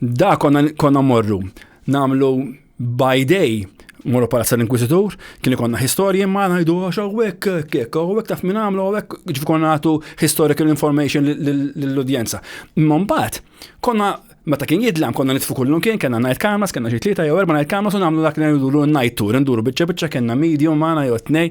Da konna, konna morru namlu by day morru palazza l-Inkwisitur, kien ikonna historiji ma ngħidu għax hawnhekk kek, hawnhekk taf minn għamlu hawnhekk ġifi konna nagħtu historical information lill-udjenza. Imma mbagħad konna meta kien jidlam konna nitfu kullum kien kena night cameras, kena xi tlieta jew erba' night cameras u nagħmlu dak li ngħidu night tour, nduru biċċa biċċa kena medium magħna jew tnej.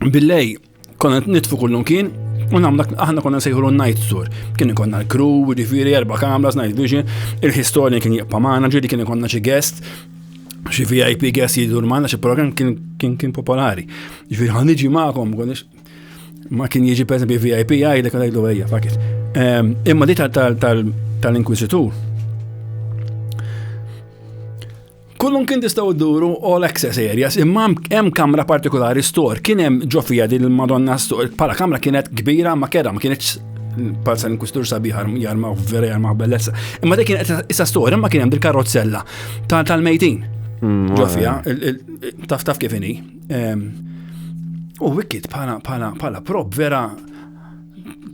Billej, konna nitfu kullum kien, u namna aħna konna sejħulu night tour. Kien konna l-crew, ġifiri, erba kamras, night vision, il-historian kien jibqa' magħna, ġiri kien konna xi guest, xi VIP guest jidur magħna, xi program kien kien popolari. Ġifiri, ħan iġi magħkom, ma kien jiġi per esempio VIP għajdek għajdu għajja, fakit. Ehm, imma di tal-inkwisitur, Kullum kien tistgħu dduru all access areas, imma hemm kamra partikolari store, kien hemm ġofija din il-Madonna store, bħala kamra kienet kbira ma kera, ma kienx palza l-inkustur sabiħar jarma vera jarma bellezza. Imma dik kienet issa store, imma kien hemm dil-karozzella tal-mejtin. Mm, ġofija, taf taf kif inhi. U wicked bħala prob vera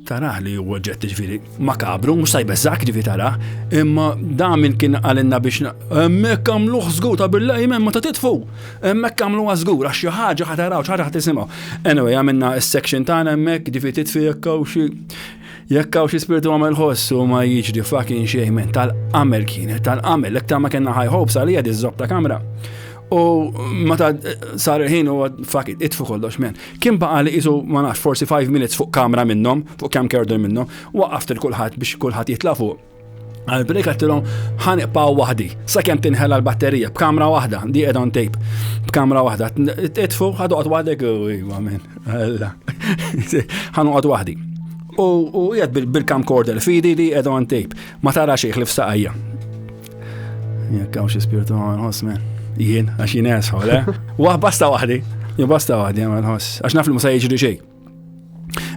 Taraħ li huwa ġett ġviri makabru, mhux sajbes zak ġviri taraħ, imma damin kien għalinna biex hemmhekk għamlu żgur ta' billa jmen ma ta' titfu. Hemmhekk għamlu żgur għax xi ħaġa ħa taraw, xi ħaġa ħa tisimgħu. Anyway, għamilna s-section tagħna hemmhekk ġifi titfi jekk hawn xi jekk hawn xi spirtu għamel ħoss u ma jiġri fucking xejn tal-qamel kienet tal-qamel l-iktar ma kellna high hopes għalija diżob ta' kamra. U meta sar il-ħin u fak itfu kollox men. Kien baqa li jisu ma nafx forsi 5 minutes fuq kamra minnhom, fuq kam kerdu minnhom, waqaft il kulħadd biex kulħadd jitla' fuq. Għal-break għattilom ħaniqpaw wahdi, sa' kem tinħela l-batterija, b'kamra wahda, di ed on tape, b'kamra wahda, itfu ħadu għad wahdek, u għamen, għalla, ħanu għad wahdi. U jgħad bil-camcorder fidi di ed on tape, ma tara xieħ li f'saqajja. Jekk hawn xi spirtu ma nħoss me. Jien, għax jien esħu, le? Waħ basta waħdi, jien basta waħdi ma nħoss, għax naf li musa jiġri xejn.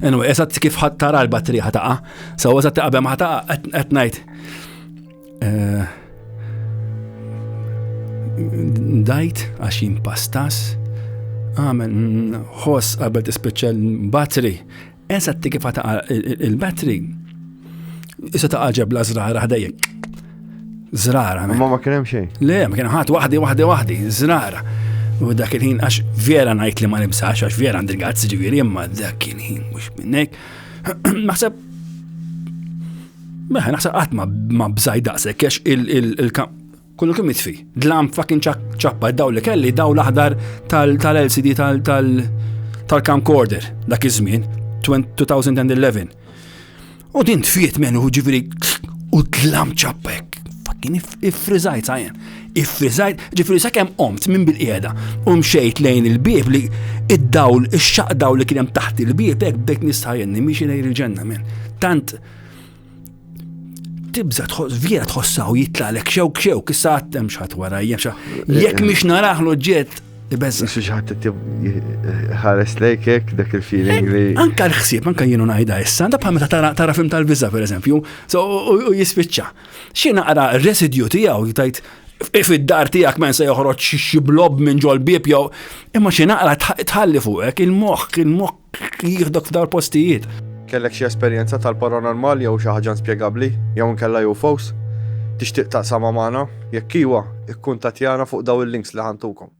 Anyway, eżatt kif ħadd tara l-batterija ħataqa, so eżatt taqabem ħataqa qed ngħid. Eh, dajt għax jien pastas, għamel ħoss qabel tispiċċa l-battery Eżatti kif ta' il-battery, issa ta' ġebla zrara ħdejja. Zrara. Ma ma kien hemm xejn. Le, ma kien ħadd waħdi waħdi waħdi, zrara. U dak il-ħin għax vera ngħid li ma nimsax għax vera għandi l-gazz ġifieri imma dak il-ħin mhux minnek. Naħseb Meħe, naħseb qatt ma bżaj daqshekk għax il-kamp Kullu kemm jitfi. Dlam fucking ċappa daw li kelli daw l-aħdar tal-LCD tal-camcorder dak iż-żmien 2011. U din tfiet menu ġifieri u dlam ċappek. Fucking ifrizajt sajjen. Ifrizajt ġifieri sakemm qomt minn bil-qiegħda u mxejt lejn il-bieb li id-dawl ix-xaq dawl li kien hemm taħt il-bieb hekk bdejt nistajjenni miex lejn il-ġenna minn. Tant tibza tħoss vjera tħossaw jitlalek xewk xewk issa għattem xħat wara jemxa. Jekk eh, miex naraħ ġiet Ibezza. Xi ħadd ħares lejkek dak il-feeling li. Eh, anka l-ħsieb, anka jienu ngħidha issa, da bħal meta tara film tal-biża pereżempju, u jispiċċa. Xi naqra residju tiegħu jtajt if id-dar tiegħek men se joħroġ xi blob minn ġol bib jew imma xi naqra tħalli fuqek il-moħħ, il-moħħ jieħdok f'dar postijiet. Kellek xi esperjenza tal-paranormal jew xi ħaġa inspjegabbli jew inkella UFOs? Tixtieq taqsamha magħna? Jekk iwa, ikkuntattjana fuq dawn il-links li ħantukom.